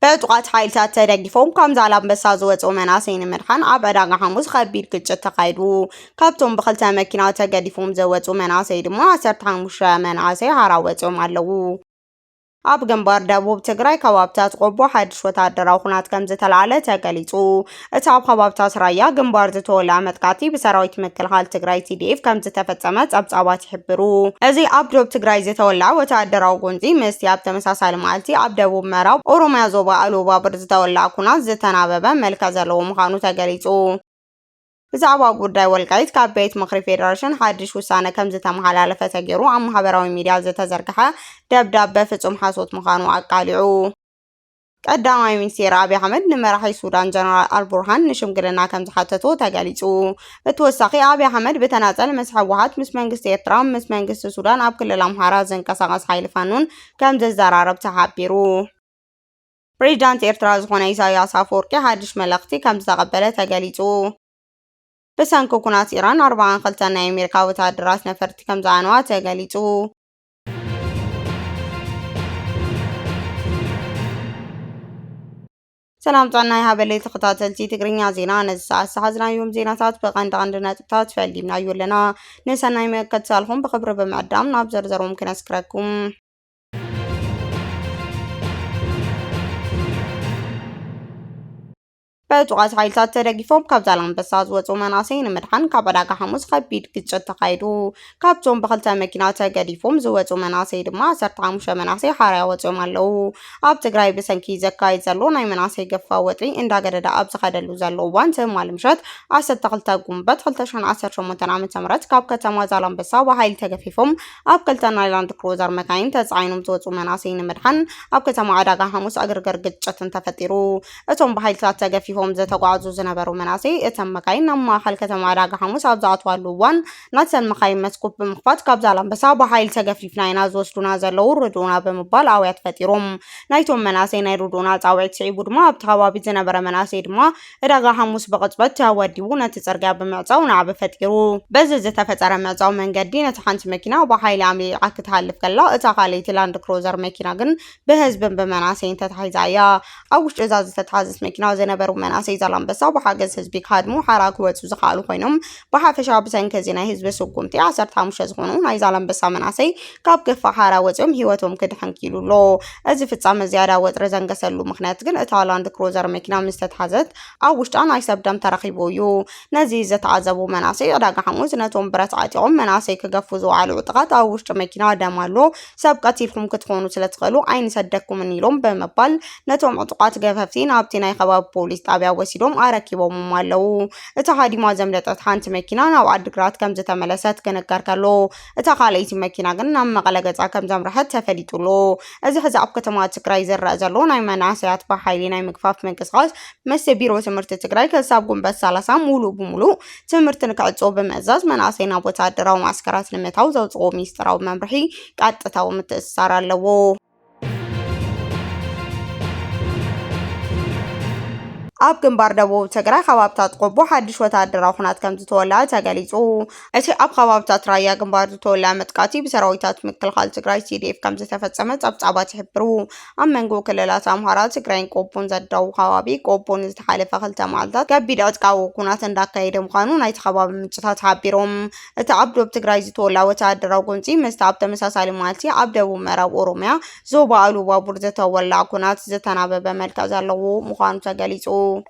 በጥቋት ሓይልታት ተደጊፎም ካብ ዛላምበሳ ዝወፁ መናሰይ ንምድሓን ኣብ ዕዳጋ ሓሙስ ከቢድ ግጭት ተኻይዱ ካብቶም ብክልተ መኪና ተገዲፎም ዘወፁ መናሰይ ድማ 15 መናሰይ ሃራ ወፂኦም ኣለዉ ኣብ ግንባር ደቡብ ትግራይ ከባብታት ቆቦ ሓድሽ ወተሃደራዊ ኩናት ከም ዝተላዕለ ተገሊጹ። እቲ ኣብ ከባብታት ራያ ግንባር ዝተወልዐ መጥቃዕቲ ብሰራዊት ምክልኻል ትግራይ ቲዲኤፍ ከም ዝተፈጸመ ጸብጻባት ይሕብሩ። እዚ ኣብ ዶብ ትግራይ ዝተወልዐ ወተሃደራዊ ጎንጺ ምስቲ ኣብ ተመሳሳሊ መዓልቲ ኣብ ደቡብ ምዕራብ ኦሮምያ ዞባ ኣሉባብር ዝተወልዐ ኩናት ዝተናበበ መልክዕ ዘለዎ ምዃኑ ተገሊጹ። ብዛዕባ ጉዳይ ወልቃይት ካብ ቤት ምኽሪ ፌዴሬሽን ሓድሽ ውሳነ ከም ዝተመሓላለፈ ተገይሩ ኣብ ማሕበራዊ ሚዲያ ዝተዘርግሐ ደብዳበ ፍጹም ሓሶት ምዃኑ ኣቃሊዑ። ቀዳማይ ሚኒስትር ኣብዪ ኣሕመድ ንመራሒ ሱዳን ጀነራል ኣልቡርሃን ንሽምግልና ከም ዝሓተቶ ተገሊጹ። ብተወሳኺ ኣብዪ ኣሕመድ ብተናጸል ምስ ህወሓት፣ ምስ መንግስቲ ኤርትራ፣ ምስ መንግስቲ ሱዳን ኣብ ክልል ኣምሓራ ዝንቀሳቐስ ሓይሊ ፋኖን ከም ዝዘራረብ ተሓቢሩ። ፕሬዚዳንት ኤርትራ ዝኾነ ኢሳይያስ ኣፈወርቂ ሓድሽ መልእኽቲ ከምዝተቐበለ ተገሊጹ። ብሰንኪ ኩናት ኢራን ኣርባዓን ክልተን ናይ ኣሜሪካ ወተሃደራት ነፈርቲ ከምዝዓነዋ ተገሊጹ። ሰላም ጥዕና ይሃበለይ ተኸታተልቲ ትግርኛ ዜና ነዚ ሰዓት ዝሓዝናዮም ዜናታት ብቐንዲ ቀንዲ ነጥብታት ፈሊምናዮ ኣለና። ንሰናይ ምእከትሳልኹም ብኽብሪ ብምዕዳም ናብ ዘርዘሮም ክነስክረኩም። ብዕጡቓት ሓይልታት ተደጊፎም ካብ ዛላንበሳ ዝወፁ መናሰይ ንምድሓን ካብ ዕዳጋ ሓሙስ ከቢድ ግጭት ተኻይዱ። ካብቶም ብክልተ መኪና ተገዲፎም ዝወፁ መናሰይ ድማ 15 መናሰይ ሓርያ ወፂኦም ኣለው። ኣብ ትግራይ ብሰንኪ ዘካይድ ዘሎ ናይ መናሰይ ገፋዊ ወጥሪ እንዳገደደ ኣብ ዝኸደሉ ዘሎ እዋን ትማሊ ምሸት 12 ጉንበት 2018 ዓ.ም ካብ ከተማ ዛላንበሳ ብሓይሊ ተገፊፎም ኣብ ክልተ ናይ ላንድ ክሩዘር መካይን ተጻዒኖም ዝወጹ መናእሰይ ንምድሓን ኣብ ከተማ ዕዳጋ ሓሙስ ዕግርግር ግጭትን ተፈጢሩ። እቶም ብሓይልታት ተገፊፎም ዝተጓዕዙ ዝነበሩ መናእሰይ እተን መካይን ናብ ማእኸል ከተማ ዕዳጋ ሓሙስ ኣብ ዝኣትዋሉ እዋን ናተን መካይን መስኮት ብምኽፋት ካብ ዛላምበሳ ብሓይሊ ተገፊፍና ኢና ዝወስዱና ዘለዉ ርድኡና ብምባል ኣውያት ፈጢሮም ናይቶም መናእሰይ ናይ ርድኡና ጻውዒት ስዒቡ ድማ ኣብቲ ከባቢ ዝነበረ መናእሰይ ድማ ዕዳጋ ሓሙስ ብቕጽበት ተወዲቡ ነቲ ጽርግያ ብምዕጻው ናዕቢ ፈጢሩ። በዚ ዝተፈጠረ ምዕጻው መንገዲ ነቲ ሓንቲ መኪና ብሓይሊ ኣምሊሊቓ ክትሃልፍ ከላ እታ ካልኣይቲ ላንድ ክሩዘር መኪና ግን ብህዝብን ብመናሰይን ተታሒዛ እያ። ኣብ ውሽጢ እዛ ዝተታሓዘት መኪና ዝነበሩ መናሰይ ዛላምበሳ ብሓገዝ ህዝቢ ክሃድሙ ሓራ ክወጹ ዝኸኣሉ ኮይኖም ብሓፈሻ ብሰንኪ እዚ ናይ ህዝቢ ስጉምቲ ዓሰርተ ሓሙሽተ ዝኾኑ ናይ ዛላምበሳ መናእሰይ ካብ ገፋሕ ሓራ ወፂኦም ህይወቶም ክድሕን ክኢሉ ኣሎ። እዚ ፍፃመ ዝያዳ ወጥሪ ዘንገሰሉ ምኽንያት ግን እታ ላንድ ክሩዘር መኪና ምስ ተትሓዘት ኣብ ውሽጣ ናይ ሰብ ደም ተረኺቡ እዩ። ነዚ ዝተዓዘቡ መናእሰይ ዕዳጋ ሓሙስ ነቶም ብረት ዓጢቖም መናእሰይ ክገፉ ዝወዓሉ ዕጡቓት ኣብ ውሽጢ መኪና ደም ኣሎ ሰብ ቀቲልኩም ክትኾኑ ስለትኽእሉ ኣይንሰደኩምን ኢሎም ብምባል ነቶም ዕጡቓት ገፈፍቲ ናብቲ ናይ ከባቢ ፖሊስ ጣብያ ወሲዶም ኣረኪቦምም ኣለው። እታ ሃዲማ ዘምለጠት ሓንቲ መኪና ናብ ዓዲግራት ከም ዝተመለሰት ክንገር ከሎ እታ ካልኣይቲ መኪና ግን ናብ መቐለ ገጻ ከም ዘምርሐት ተፈሊጡ ኣሎ። እዚ ሕዚ ኣብ ከተማ ትግራይ ዝረኣ ዘሎ ናይ መናእሰያት ብሓይሊ ናይ ምግፋፍ ምንቅስቓስ ምስ ቢሮ ትምህርቲ ትግራይ ክሳብ ጉንበት 30 ሙሉእ ብሙሉእ ትምህርቲ ንክዕጾ ብምእዛዝ መናእሰይ ናብ ወተሃደራዊ ማዕስከራት ንምእታው ዘውጽኦ ሚስጥራዊ መምርሒ ቀጥታዊ ምትእስሳር ኣለዎ። ኣብ ግንባር ደቡብ ትግራይ ከባብታት ቆቦ ሓድሽ ወተሃደራዊ ኩናት ከም ዝተወልዐ ተገሊጹ። እቲ ኣብ ከባብታት ራያ ግንባር ዝተወልዐ መጥቃዕቲ ብሰራዊታት ምክልኻል ትግራይ ቲዲኤፍ ከም ዝተፈጸመ ጸብጻባት ይሕብሩ። ኣብ መንጎ ክልላት ኣምሃራ፣ ትግራይን ቆቦን ዘዳው ከባቢ ቆቦ ንዝተሓለፈ ክልተ መዓልታት ከቢድ ዕጥቃዊ ኩናት እንዳካየደ ምዃኑ ናይቲ ከባቢ ምንጭታት ሓቢሮም። እቲ ኣብ ዶብ ትግራይ ዝተወልዐ ወተሃደራዊ ጎንፂ ምስቲ ኣብ ተመሳሳሊ መዓልቲ ኣብ ደቡብ ምዕራብ ኦሮሚያ ዞባ ኢሉባቡር ዝተወልዐ ኩናት ዝተናበበ መልክዕ ዘለዎ ምዃኑ ተገሊፁ።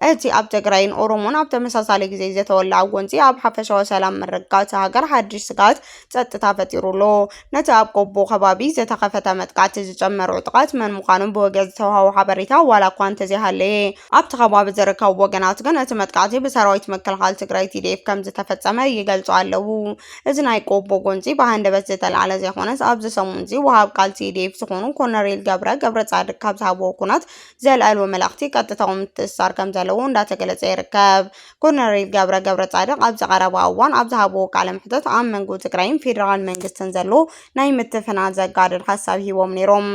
እቲ ኣብ ትግራይን ኦሮሞን ኣብ ተመሳሳሊ ግዜ ዝተወልዐ ጎንፂ ኣብ ሓፈሻዊ ሰላም ምርግጋእ እታ ሃገር ሓድሽ ስግኣት ፀጥታ ፈጢሩ ኣሎ። ነቲ ኣብ ቆቦ ከባቢ ዝተኸፈተ መጥቃዕቲ ዝጨመረ ዕጡቓት መን ምዃኖም ብወግዒ ዝተውሃቦ ሓበሬታ ዋላ እኳ እንተዘይሃለየ፣ ኣብቲ ከባቢ ዝርከቡ ወገናት ግን እቲ መጥቃዕቲ ብሰራዊት ምክልኻል ትግራይ ቲዲኤፍ ከም ዝተፈጸመ ይገልጹ ኣለዉ። እዚ ናይ ቆቦ ጎንጺ ብሃንደበት ዝተልዓለ ዘይኮነስ ኣብዚ ሰሙንዚ ወሃብ ቃል ቲዲኤፍ ዝኾኑ ኮነሬል ገብረ ገብረጻድቅ ካብ ዝሃብዎ ኩናት ዘልዐልዎ መልእኽቲ ቀጥታዊ ምትእስሳር ከም ዘለዎ እንዳተገለጸ ይርከብ። ኮነሬል ገብረ ገብረጻድቅ ኣብዚ ቀረባ እዋን ኣብ ዝሃብዎ ቃለ መሕተት ኣብ መንጎ ትግራይን ፌደራል መንግስትን ዘሎ ናይ ምትፍናን ዘጋድድ ሓሳብ ሂቦም ነይሮም።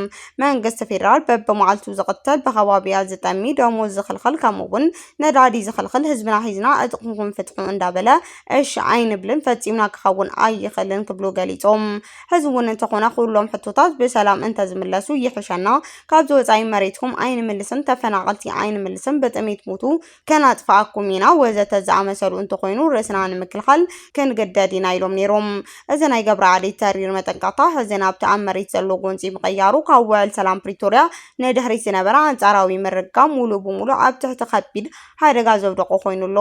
መንግስቲ ፌደራል በብመዓልቱ ዝቕተል ብኸባቢያ ዝጠሚ ደሞዝ ዝኽልኽል ከምኡ እውን ነዳዲ ዝኽልኽል ህዝብና ሒዝና ዕጥቕኹም ፍትሑ እንዳበለ እሺ ኣይንብልን ፈፂምና ክኸውን ኣይኽእልን ክብሉ ገሊፆም። ሕዚ እውን እንተኾነ ኩሎም ሕቶታት ብሰላም እንተዝምለሱ ይሕሸና ካብዚ ወፃኢ መሬትኩም ኣይንምልስን ተፈናቐልቲ ኣይንምልስን ብጥሜት ሙቱ ከነጥፍኣኩም ኢና ወዘተ ዝኣመሰሉ እንተኾይኑ ርእስና ንምክልኻል ክንግደድ ኢና ኢሎም ነይሮም። እዚ ናይ ገብረዓሊ ተሪር መጠንቀቕታ ሕዚ ናብቲ ኣብ መሬት ዘሎ ጎንፂ ምቕያሩ ካብ ውዕል ሰላም ፕሪቶርያ ንድሕሪት ዝነበረ ኣንፃራዊ ምርግጋእ ሙሉእ ብሙሉእ ኣብ ትሕቲ ከቢድ ሓደጋ ዘውደቖ ኮይኑ ኣሎ።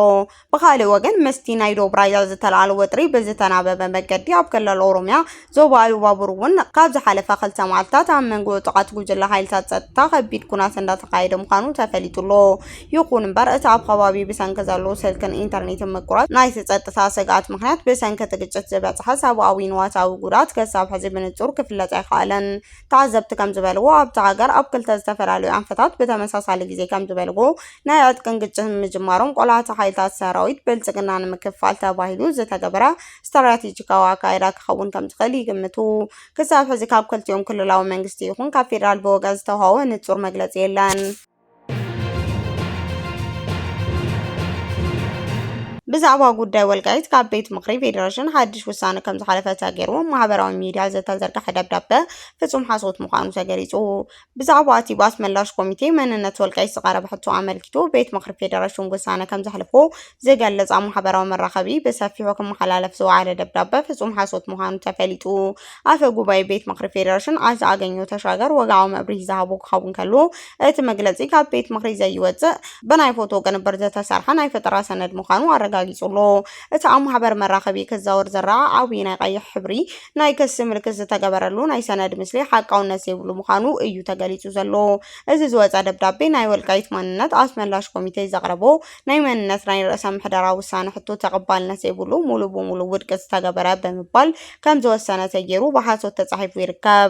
ብኻሊእ ወገን ምስቲ ናይ ዶብ ራያ ዝተልዓለ ወጥሪ ብዝተናበበ መገዲ ኣብ ክልል ኦሮሚያ ዞባ ኢሉባቡር እውን ካብ ዝሓለፈ ክልተ መዓልትታት ኣብ መንጎ ዕጡቓት ጉጅለ ሓይልታት ጸጥታ ከቢድ ኩናት እንዳተኻየደ ምዃኑ ተፈሊጡ ኣሎ። ይኹን እምበር እቲ ኣብ ከባቢ ብሰንኪ ዘሎ ስልክን ኢንተርኔትን ምቁራጽ ናይቲ ጸጥታ ስግኣት ምኽንያት ብሰንኪ እቲ ግጭት ዝበጽሐ ሰብኣዊ ንዋታዊ ጉድኣት ከሳብ ሕዚ ብንጹር ክፍለጥ ኣይከኣለን። ተዓዘብቲ ከምዝበልዎ ኣብታ ሃገር ኣብ ክልተ ዝተፈላለዩ ኣንፈታት ብተመሳሳሊ ግዜ ከምዝበልዎ ናይ ዕጥቅን ግጭትን ምጅማሮም ቆላሕታ ሓይልታት ሰራዊት ብልጽግና ንምክፍፋል ተባሂሉ ዝተገበረ ስትራቴጂካዊ ኣካይዳ ክኸውን ከምዝኽእል ይግምቱ። ክሳብ ሕዚ ካብ ክልቲኦም ክልላዊ መንግስቲ ይኹን ካብ ፌዴራል ብወገን ዝተውሃወ ንጹር መግለጺ የለን። ብዛዕባ ጉዳይ ወልቃይት ካብ ቤት ምኽሪ ፌዴሬሽን ሓድሽ ውሳነ ከም ዝሓለፈ ተገይሩ ማሕበራዊ ሚዲያ ዝተዘርግሐ ደብዳበ ፍጹም ሓሶት ምዃኑ ተገሊጹ። ብዛዕባ እቲ ባት መላሽ ኮሚቴ መንነት ወልቃይት ዝቐረበ ሕቶ ኣመልኪቱ ቤት ምኽሪ ፌዴሬሽን ውሳነ ከም ዘሕለፎ ዝገለጽ ኣብ ማሕበራዊ መራኸቢ ብሰፊሑ ክመሓላለፍ ዝወዓለ ደብዳበ ፍጹም ሓሶት ምዃኑ ተፈሊጡ። ኣፈ ጉባኤ ቤት ምኽሪ ፌዴሬሽን ኣቶ ኣገኘሁ ተሻገር ወግዓዊ መብርሂ ዝሃቡ ክኸውን ከሎ እቲ መግለጺ ካብ ቤት ምኽሪ ዘይወጽእ ብናይ ፎቶ ቅንብር ዝተሰርሐ ናይ ፈጠራ ሰነድ ምዃኑ ኣረጋጊጹ ኣሎ። እቲ ኣብ ማሕበር መራኸቢ ክዛወር ዝረኣ ዓብዪ ናይ ቀይሕ ሕብሪ ናይ ክሲ ምልክት ዝተገበረሉ ናይ ሰነድ ምስሊ ሓቃውነት ዘይብሉ ምዃኑ እዩ ተገሊጹ ዘሎ። እዚ ዝወጸ ደብዳቤ ናይ ወልቃይት ማንነት ኣስመላሽ ኮሚቴ ዘቕረቦ ናይ መንነት ናይ ርእሰ ምሕደራ ውሳነ ሕቶ ተቐባልነት ዘይብሉ ሙሉእ ብሙሉእ ውድቂ ዝተገበረ ብምባል ከምዝወሰነ ተጌሩ ብሓሶት ተጻሒፉ ይርከብ።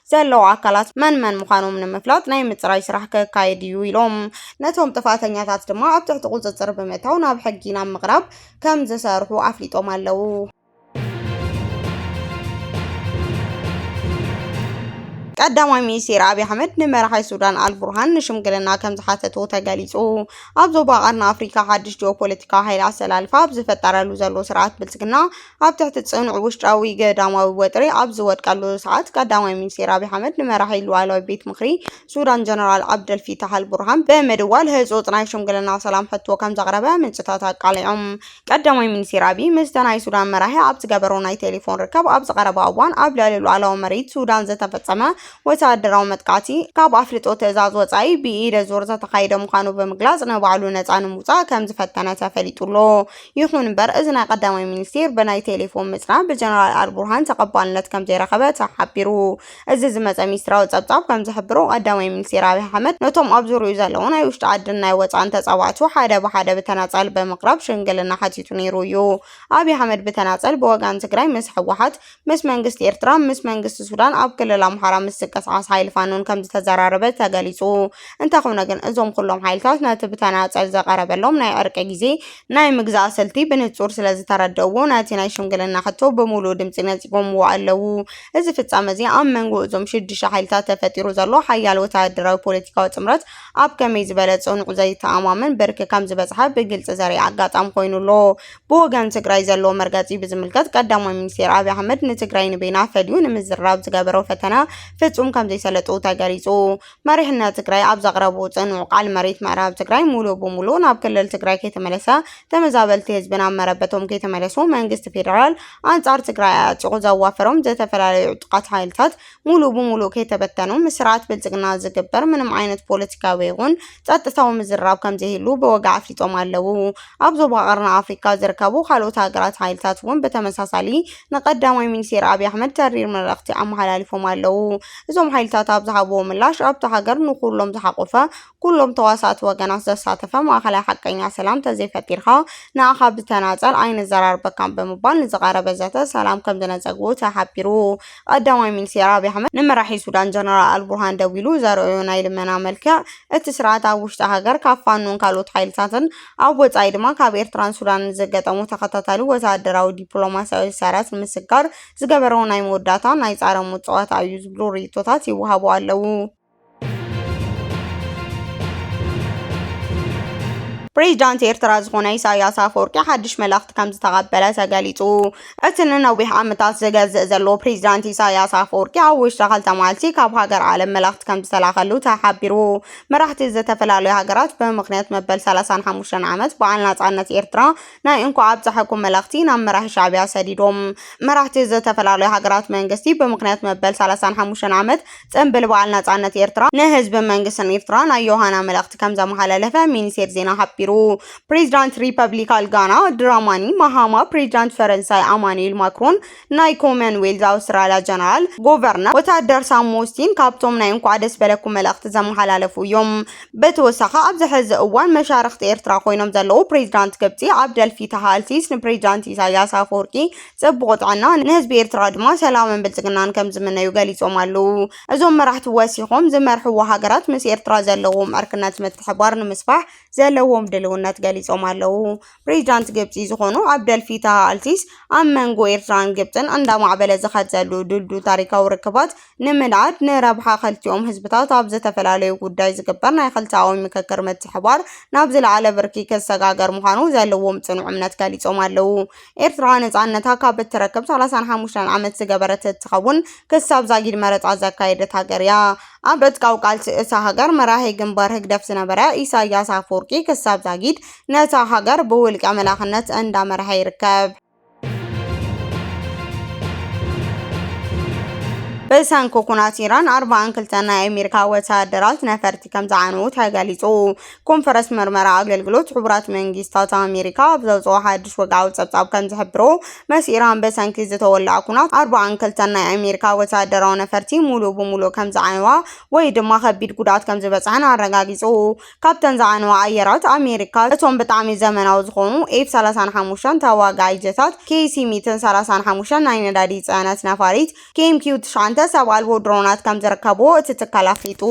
ዘለዉ ኣካላት መን መን ምዃኖም ንምፍላጥ ናይ ምፅራይ ስራሕ ከካየድ እዩ ኢሎም። ነቶም ጥፍኣተኛታት ድማ ኣብ ትሕቲ ቁፅፅር ብምእታው ናብ ሕጊ ናብ ምቕራብ ከም ዝሰርሑ ኣፍሊጦም ኣለዉ። ቀዳማይ ሚኒስቴር ኣብዪ ኣሕመድ ንመራሒ ሱዳን ኣልቡርሃን ንሽምግልና ከም ዝሓተቱ ተገሊጹ። ኣብ ዞባ ቀርኒ ኣፍሪካ ሓድሽ ጂኦፖለቲካዊ ሓይሊ ኣሰላልፋ ኣብ ዝፈጠረሉ ዘሎ ስርዓት ብልጽግና ኣብ ትሕቲ ጽኑዕ ውሽጣዊ ገዳማዊ ወጥሪ ኣብ ዝወድቀሉ ሰዓት፣ ቀዳማይ ሚኒስተር ኣብይ ኣሕመድ ንመራሒ ሉኣላዊ ቤት ምኽሪ ሱዳን ጀነራል ዓብደል ፊታሕ ኣልቡርሃን ብምድዋል ህጹጽ ናይ ሽምግልና ሰላም ሕቶ ከም ዘቕረበ ምንጭታት ኣቃሊዖም። ቀዳማይ ሚኒስተር ኣብይ ምስቲ ናይ ሱዳን መራሒ ኣብ ዝገበሮ ናይ ቴሌፎን ርክብ ኣብዚ ቀረባ እዋን ኣብ ልዕሊ ሉኣላዊ መሬት ሱዳን ዝተፈጸመ ወተሃደራዊ መጥቃዕቲ ካብ ኣፍልጦ ትእዛዝ ወጻኢ ብኢደ ዙር ዝተኻየደ ምዃኑ ብምግላጽ ንባዕሉ ነጻ ንምውጻእ ከም ዝፈተነ ተፈሊጡ ኣሎ። ይኹን እምበር እዚ ናይ ቀዳማይ ሚኒስቴር ብናይ ቴሌፎን ምፅራብ ብጀነራል ኣልቡርሃን ተቐባልነት ከምዘይረኸበ ተሓቢሩ። እዚ ዝመፀ ሚስጥራዊ ፀብፃብ ከምዝሕብሮ ቀዳማይ ሚኒስቴር ኣብይ ኣሕመድ ነቶም ኣብ ዙርይኡ ዘለዉ ናይ ውሽጢ ዓድን ናይ ወፃእን ተፃባእቱ ሓደ ብሓደ ብተናፀል ብምቕራብ ሽምግልና ሓቲቱ ነይሩ እዩ። ኣብይ ኣሕመድ ብተናፀል ብወገን ትግራይ ምስ ህወሓት ምስ መንግስቲ ኤርትራን ምስ መንግስቲ ሱዳን ኣብ ክልል ኣምሓራ ምስ ዝንቀሳቐስ ሓይሊ ፋኖን ከምዝተዘራረበ ተገሊጹ። እንተኾነ ግን እዞም ኩሎም ሓይልታት ነቲ ብተናጸል ዝቐረበሎም ናይ ዕርቂ ግዜ ናይ ምግዛእ ስልቲ ብንጹር ስለዝተረድእዎ ነቲ ናይ ሽምግልና ሕቶ ብምሉእ ድምጺ ነጺጎምዎ ኣለዉ። እዚ ፍጻመ'ዚ ኣብ መንጎ እዞም ሽዱሽተ ሓይልታት ተፈጢሩ ዘሎ ሓያል ወተሃደራዊ ፖለቲካዊ ጥምረት ኣብ ከመይ ዝበለ ጽኑዕ ዘይተኣማመን ብርኪ ከምዝበጽሐ ብግልጺ ዘርኢ ኣጋጣሚ ኮይኑ ኣሎ። ብወገን ትግራይ ዘለዎ መርገፂ ብዝምልከት ቀዳማይ ሚኒስቴር ኣብይ ኣሕመድ ንትግራይ ንበይና ፈልዩ ንምዝርራብ ዝገበሮ ፈተነ ፍፁም ከምዘይሰለጡ ተገሊፁ። መሪሕነት ትግራይ ኣብ ዘቕረቡ ፅኑዕ ቃል መሬት ምዕራብ ትግራይ ሙሉእ ብሙሉእ ናብ ክልል ትግራይ ከይተመለሰ ተመዛበልቲ ህዝቢ ናብ መረበቶም ከይተመለሱ መንግስቲ ፌደራል ኣንፃር ትግራይ ኣዕፂቑ ዘዋፈሮም ዝተፈላለዩ ዕጡቓት ሓይልታት ሙሉእ ብሙሉእ ከይተበተኑ ምስርዓት ብልፅግና ዝግበር ምንም ዓይነት ፖለቲካዊ ይኹን ፀጥታዊ ምዝርራብ ከምዘይህሉ ብወግዒ ኣፍሊጦም ኣለው። ኣብ ዞባ ቀርኒ ኣፍሪካ ዝርከቡ ካልኦት ሃገራት ሓይልታት እውን ብተመሳሳሊ ንቀዳማይ ሚኒስቴር ኣብይ ኣሕመድ ተሪር መልእኽቲ ኣመሓላሊፎም ኣለው። እዞም ሓይልታት ኣብ ዝሃብዎ ምላሽ ኣብታ ሃገር ንኹሎም ዝሓቖፈ ኩሎም ተዋሳእቲ ወገናት ዘሳተፈ ማእኸላይ ሓቀኛ ሰላም እንተዘይፈጢርካ ንኣኻ ብተናፀል ኣይንዘራርበካን ብምባል ንዝቐረበ ዘተ ሰላም ከምዝነፀግዎ ተሓቢሩ። ቀዳማይ ሚኒስቴር ኣብይ ኣሕመድ ንመራሒ ሱዳን ጀነራል ኣልቡርሃን ደዊሉ ዘርኣዮ ናይ ልመና መልክዕ እቲ ስርዓት ኣብ ውሽጢ ሃገር ካብ ፋኖን ካልኦት ሓይልታትን ኣብ ወፃኢ ድማ ካብ ኤርትራን ሱዳንን ዘገጠሞ ተኸታታሊ ወተሃደራዊ ዲፕሎማሲያዊ ሰረት ንምስጋር ዝገበሮ ናይ መወዳእታ ናይ ፃረ ሞት ፀዋታ እዩ ዝብሉ ርኢቶታት ይወሃቡ ኣለዉ። ፕሬዚዳንት ኤርትራ ዝኾነ ኢሳያስ ኣፈወርቂ ሓድሽ መልእኽቲ ከም ዝተቐበለ ተገሊጹ። እቲ ንነዊሕ ዓመታት ዝገዝእ ዘሎ ፕሬዚዳንት ኢሳያስ ኣፈወርቂ ኣብ ውሽጢ ክልተ መዓልቲ ካብ ሃገር ዓለም መልእኽቲ ከም ዝተላኸሉ ተሓቢሩ። መራሕቲ ዝተፈላለዩ ሃገራት ብምኽንያት መበል 35 ዓመት በዓል ናጻነት ኤርትራ ናይ እንኳዕ ኣብፀሐኩም መልእኽቲ ናብ መራሒ ሻዕቢያ ሰዲዶም። መራሕቲ ዝተፈላለዩ ሃገራት መንግስቲ ብምኽንያት መበል 35 ዓመት ጽንብል በዓል ናጻነት ኤርትራ ንህዝብን መንግስትን ኤርትራ ናይ ዮሃና መልእኽቲ ከም ዘመሓላለፈ ሚኒስቴር ዜና ሓቢሩ። ፕሬዚዳንት ሪፐብሊካል ጋና ድራማኒ ማሃማ፣ ፕሬዚዳንት ፈረንሳይ ኣማኑኤል ማክሮን፣ ናይ ኮመን ዌልዝ ኣውስትራልያ ጀነራል ጎቨርነር ወታደር ሳም ሞስቲን ካብቶም ናይ እንኳዕ ደስ በለኩም መልእኽቲ ዘመሓላለፉ እዮም። ብተወሳኺ ኣብዚ ሕዚ እዋን መሻርኽቲ ኤርትራ ኮይኖም ዘለዉ ፕሬዚዳንት ግብጺ ዓብደል ፊታህ ኣልሲስ ንፕሬዚዳንት ኢሳይያስ ኣፈወርቂ ፅቡቕ ጥዕና ንህዝቢ ኤርትራ ድማ ሰላምን ብልፅግናን ከምዝምነዩ ገሊፆም ኣለው። እዞም መራሕቲ ወሲኾም ዝመርሕዎ ሃገራት ምስ ኤርትራ ዘለዎም ዕርክነት ምትሕብባር ንምስፋሕ ዘለዎም ድልውነት ገሊፆም ኣለው። ፕሬዚዳንት ግብፂ ዝኾኑ ዓብደል ፊታህ ኣልሲስ ኣብ መንጎ ኤርትራን ግብፅን እንዳማዕበለ ዝኸድ ዘሉ ድልዱል ታሪካዊ ርክባት ንምንኣድ ንረብሓ ኸልቲኦም ህዝብታት ኣብ ዝተፈላለዩ ጉዳይ ዝግበር ናይ ኽልተኣዊ ምክክር ምትሕብባር ናብ ዝለዓለ ብርኪ ክሰጋገር ምዃኑ ዘለዎም ፅኑዕ እምነት ገሊፆም ኣለው። ኤርትራ ነጻነታ ካብ እትረክብ ሰላሳን ሓሙሽተን ዓመት ዝገበረት እትኸውን ክሳብ ዛጊድ መረጻ ዘካየደት ሃገር እያ። ኣብ ዕጥቃዊ ቃልሲ እታ ሃገር መራሒ ግንባር ህግደፍ ዝነበረ ኢሳያስ ኣፈወርቂ ክሳብ ዛጊድ ነታ ሃገር ብውልቀ መላኽነት እንዳመርሐ ይርከብ። ብሰንኪ ኩናት ኢራን ኣርባዓን ክልተን ናይ ኣሜሪካ ወተሃደራት ነፈርቲ ከምዝዓነዉ ተገሊጹ። ኮንፈረስ መርመራ ኣገልግሎት ሕቡራት መንግስታት ኣሜሪካ ኣብ ዘውፅኦ ሓድሽ ወግዓዊ ጸብጻብ ከም ዝሕብሮ መስ ኢራን በሰንኪ ዝተወልዐ ኩናት ኣርባዓን ክልተን ናይ ኣሜሪካ ወተሃደራዊ ነፈርቲ ሙሉእ ብሙሉእ ከም ዝዓነዋ ወይ ድማ ከቢድ ጉድኣት ከም ዝበጽሐን ኣረጋጊጹ። ካብተን ዝዓነዋ ኣየራት ኣሜሪካ እቶም ብጣዕሚ ዘመናዊ ዝኾኑ ኤፍ ሰላሳን ሓሙሽተን ተዋጋኢ ጀታት፣ ኬሲ ሚትን ሰላሳን ሓሙሽተን ናይ ነዳዲ ጽዕነት ነፋሪት፣ ኬምኪው ትሽዓንተ ሰብ ኣልቦ ድሮናት ከም ዝርከብዎ እቲ ትካል ኣፍሊጡ።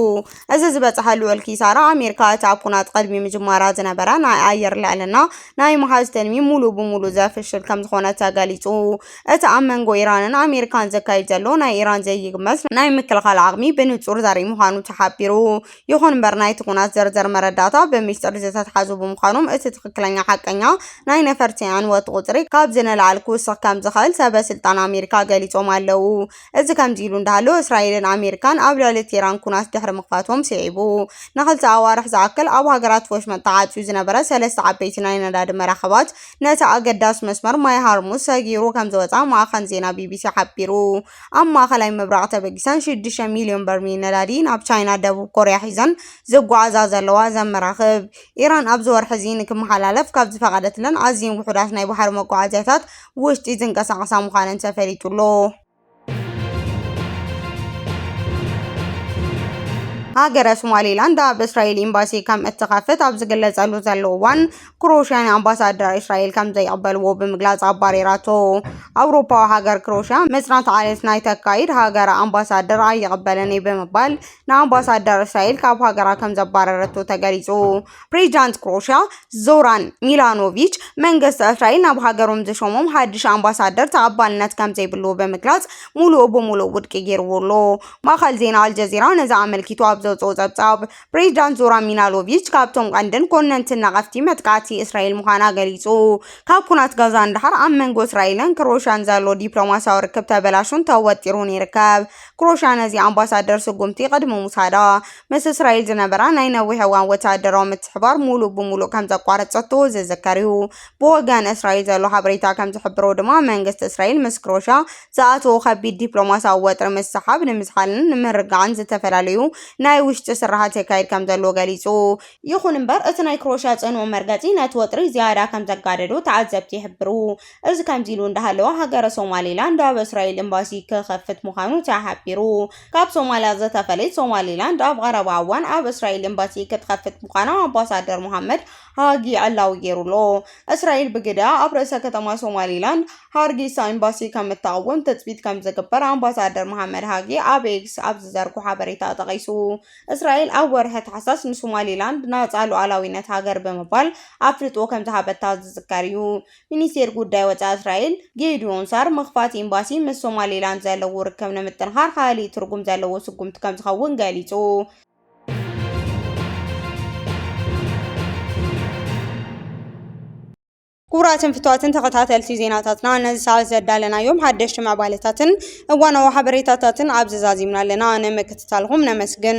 እዚ ዝበጽሐ ልዑል ኪሳራ ኣሜሪካ እቲ ኣብ ኩናት ቅድሚ ምጅማራ ዝነበረ ናይ ኣየር ልዕልና ናይ ምሓዝ ትልሚ ሙሉእ ብሙሉእ ዘፍሽል ከም ዝኾነ ተገሊጹ። እቲ ኣብ መንጎ ኢራንን ኣሜሪካን ዘካይድ ዘሎ ናይ ኢራን ዘይግመት ናይ ምክልኻል ዓቕሚ ብንጹር ዘርኢ ምዃኑ ተሓቢሩ። ይኹን እምበር ናይቲ ኩናት ዘርዘር መረዳእታ ብሚስጥር ዝተትሓዙ ብምዃኖም እቲ ትኽክለኛ ሓቀኛ ናይ ነፈርቲ ዕንወት ቁፅሪ ካብዚ ንላዕሊ ክውስኽ ከም ዝኽእል ሰበ ስልጣን ኣሜሪካ ገሊጾም ኣለዉ። እዚ ከምዚ ኢሉ እንዳሃለወ እስራኤልን ኣሜሪካን ኣብ ልዕሊ ቴህራን ኩናት ድሕሪ ምኽፋቶም ስዒቡ ንኽልተ ኣዋርሕ ዝኣክል ኣብ ሃገራት ወሽመጥ ተዓጽዩ ዝነበረ ሰለስተ ዓበይቲ ናይ ነዳዲ መራኽባት ነቲ ኣገዳሲ መስመር ማይ ሃርሙዝ ሰጊሩ ከም ዝወጽኣ ማዕኸን ዜና ቢቢሲ ሓቢሩ። ኣብ ማእከላይ ምብራቕ ተበጊሰን ሽዱሽተ ሚልዮን በርሚል ነዳዲ ናብ ቻይናን ደቡብ ኮርያን ሒዘን ዝጓዓዛ ዘለዋ እዘን መራኽብ፣ ኢራን ኣብዚ ወርሒ'ዚ ንክመሓላለፍ ካብ ዝፈቐደትለን ኣዝየን ውሑዳት ናይ ባሕሪ መጓዓዝያታት ውሽጢ ዝንቀሳቐሳ ምዃነን ተፈሊጡ'ሎ። ሃገረ ሶማሊላንድ ኣብ እስራኤል ኤምባሲ ከም እትኸፍት ኣብ ዝግለጸሉ ዘሎ እዋን፣ ክሮሽያ ንኣምባሳደራ እስራኤል ከም ዘይቕበልዎ ብምግላጽ ኣባሪራቶ። ኣውሮፓዊ ሃገር ክሮሽያ መጽናዕቲ ዓሌት ናይ ተካይድ ሃገራ ኣምባሳደር ኣይቕበልን እዩ ብምባል ንኣምባሳደር እስራኤል ካብ ሃገራ ከም ዘባረረቶ ተገሊጹ። ፕሬዚዳንት ክሮሽያ ዞራን ሚላኖቪች መንግስቲ እስራኤል ናብ ሃገሮም ዝሾሞም ሓድሽ ኣምባሳደር ተቐባልነት ከም ዘይብሉ ብምግላጽ ሙሉእ ብሙሉእ ውድቂ ገይርዎ ኣሎ። ማእከል ዜና ኣልጀዚራ ነዚ ኣመልኪቱ ኣብ ዘውጽኦ ጸብጻብ ፕሬዚዳንት ዞራን ሚናሎቪች ካብቶም ቀንድን ኮነንትን ነቐፍቲ መጥቃዕቲ እስራኤል ምዃና ገሊጹ። ካብ ኩናት ጋዛ ንደሓር ኣብ መንጎ እስራኤልን ክሮሻን ዘሎ ዲፕሎማስያዊ ርክብ ተበላሹን ተወጢሩን ይርከብ። ክሮሻ ነዚ ኣምባሳደር ስጉምቲ ቅድሚ ምውሳዳ ምስ እስራኤል ዝነበራ ናይ ነዊሕ እዋን ወተሃደራዊ ምትሕባር ሙሉእ ብሙሉእ ከምዘቋረጸቶ ዝዝከር እዩ። ብወገን እስራኤል ዘሎ ሓበሬታ ከምዝሕብሮ ድማ መንግስቲ እስራኤል ምስ ክሮሻ ዝኣተዎ ከቢድ ዲፕሎማስያዊ ወጥሪ ምስ ሰሓብ ንምዝሓልን ንምርግጋዕን ዝተፈላለዩ ናይ ውሽጢ ስርሓት የካይድ ከምዘሎ ገሊጹ። ይኹን እምበር እቲ ናይ ክሮኤሽያ ጽኑው መርገጺ ነቲ ወጥሪ ዝያዳ ከምዘጋደዶ ተዓዘብቲ ይሕብሩ። እዚ ከምዚ ኢሉ እንዳሃለወ ሃገረ ሶማሊላንድ ኣብ እስራኤል ኤምባሲ ክኸፍት ምዃኑ ተሓቢሩ። ካብ ሶማልያ ዝተፈለየት ሶማሊላንድ ኣብ ቐረባ እዋን ኣብ እስራኤል ኤምባሲ ክትኸፍት ምዃና ኣምባሳደር ሞሃመድ ሃጊ ዕላዊ ገይሩ'ሎ። እስራኤል ብግደኣ ኣብ ርእሰ ከተማ ሶማሊላንድ ሃርጌሳ ኤምባሲ ከም እተቕውም ትጽቢት ከም ዝግበር ኣምባሳደር መሓመድ ሃጊ ኣብ ኤክስ ኣብ ዝዘርጎ ሓበሬታ ጠቒሱ። እስራኤል ኣብ ወርሒ ታሕሳስ ንሶማሊላንድ ናጻ ሉዓላዊነት ሃገር ብምባል ኣፍልጦ ከም ዝሃበታ ዝዝከር እዩ። ሚኒስቴር ጉዳይ ወጻኢ እስራኤል ጌድዮን ሳር ምኽፋት ኤምባሲ ምስ ሶማሊላንድ ዘለዎ ርክብ ንምጥንኻር ካልእ ትርጉም ዘለዎ ስጉምቲ ከም ዝኸውን ገሊጹ። ክቡራትን ፍትዋትን ተኸታተልቲ ዜናታትና ነዚ ሰዓት ዘዳለናዮም ሓደሽቲ ምዕባለታትን እዋናዊ ሓበሬታታትን ኣብዚ ዛዚምና ኣለና። ንምክትታልኹም ነመስግን።